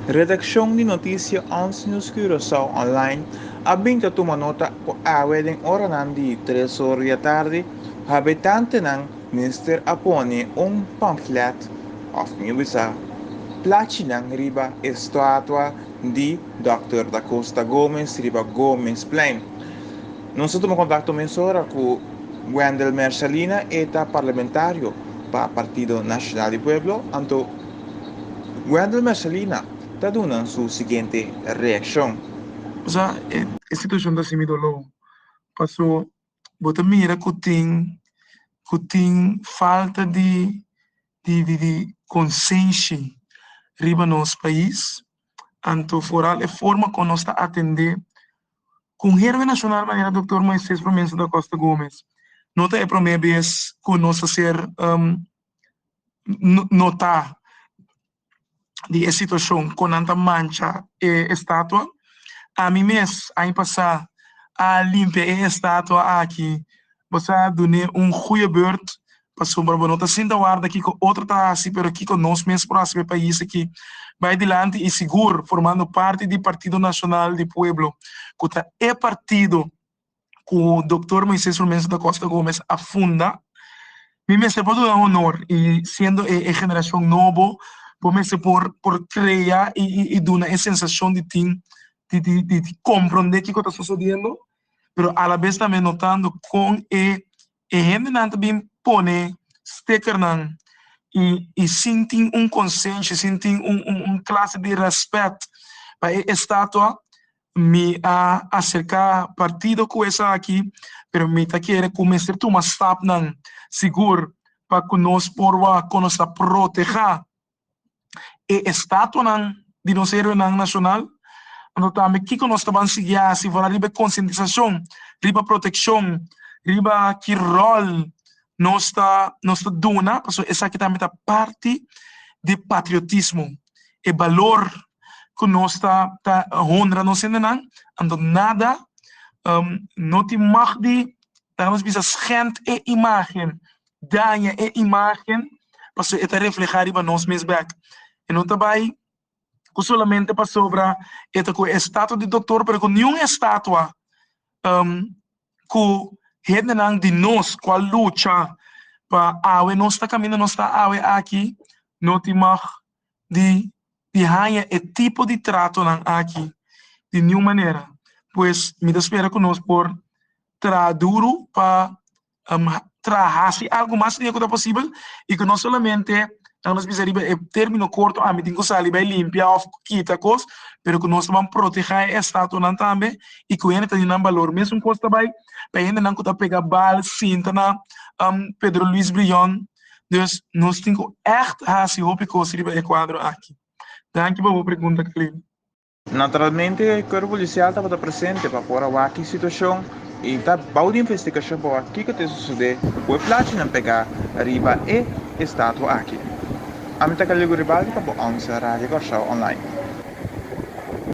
Redaccion di noticia Ons News Curaçao Online a bin ta tuma nota cu awe den oranan di tres ora di atardi habitantenan mester a pone un pamflet, of mi bisa, plachinan riba e statua di Dòkter Da Costa Gomez riba Gomezplein. Nos a tuma contacto mesora cu Wendel Mersalina, e ta parlamentario pa Partido Nacional di Pueblo, anto. Wendel Mercelina ta duna su siguiente reaccion. Sa e situacion ta hasi mi dolo paso bo ta mira cu tin cu tin falta di di consenshi riba nos pais anto foral e forma con nos ta atende con heroe nacional manera Doctor Moises Promensa da Costa Gomez no ta e prome bes cu nos ta ser nota di e situacion con nan ta mancha e estatua. Ami mes aña pasa a limpia e estatua aki, bo sa dun'e un goeie beurt pasobra bo no ta sinta warda kico otro ta haci pero kico nos mes por haci p'e pais aki bay dilanti y sigur formando parti di Partido Nacional di Pueblo cu ta e partido cu Doctor Moises Rumenso da Costa Gomez a funda, mi mester por duna honor y siendo e generacion nobo bo mester por por crea y duna e sensacion di tin di di di comprende kico ta sucediendo pero a la vez tambe notando con e E hendenan ta bin pone stickernan i sin tin un konsenshi, sin tin un klase di rèspèt pa e estatua, mi a aserká partido ku esaki, pero mi ta kere ku mester tuma stapnan sigur pa ku nos por wak, ku nos a protegá e estatuanan di nos heroenan nashonal? Anto tambe kiko nos ta ban sigui hasi for riba e konsientisashon riba protekshon, riba ki ròl nos ta nos ta duna? Pasobra esaki tambe ta parti di e patriotismo, e balor ku nos ta ta honra nos hendenan. Anto nada no tin mòg di laga nos bisa schènt e imágen daña e imagen pasobra e ta reflehá riba nos mes bèk. E no ta bai ku solamente pasobra e ta ku e estatua di doktor pero ku niun estatua ku hendenan di nos ku a lucha pa awe nos ta kaminda nos ta awe aki no tin mag di di haña e tipo di tratonan aki di niun manera. Pues mi ta spera ku nos por traha duru pa traha haci algo mas riba cu ta posibel y cu no solamente nan nos bisa riba e termino corto ami tin cu sali bay limpia of kita cos pero cu nos taban proteha e estatuanan tambe y cu hende ta di nan balor mesun cos ta bay pa e hendenan cu ta pega bal sinta na Pedro Luis Brion dus nos tin cu echt haci hopi cos riba e cuadro aki. Danki pa bo pregunta Carlino. Naturalmente Cuerpo Policial tabata presente pa por a wak ki situacion y ta bao di investigacion pa wak kico ta e sucede cu e plachinan pega riba e estatua aki. Ami ta Calilio Guribaldi pa Bo Aunse, Radio Curaçao Online.